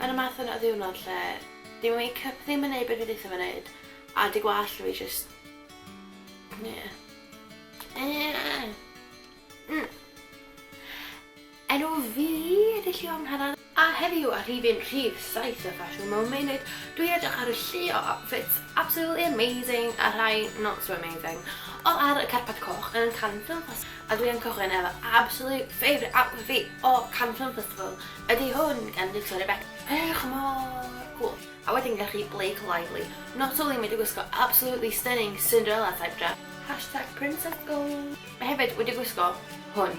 Mae 'na math yna o ddiwrnod lle 'di makeup ddim yn neud be' dwi deutha fe neud a 'di gwallt fi jyst... Ie. Ie! Mm. Enw fi ydy Llio Angharad a heddiw ar rhifyn rhif saith y Fashion Momenid dwi'n edrych ar y llio outfits absolutely amazing a rhai not so amazing all ar y carpad coch yn Cannes Film Festival a dwi yn cychwyn efo absolute favourite outfit fi o Cannes Film Festival ydy hwn gan Victoria Beckham edrych mor cwl a wedyn gennych chi Blake Lively not only mae 'di gwisgo absolutely stunning Cinderella type dress hashtag Prince of Gold mae hefyd wedi gwisgo hwn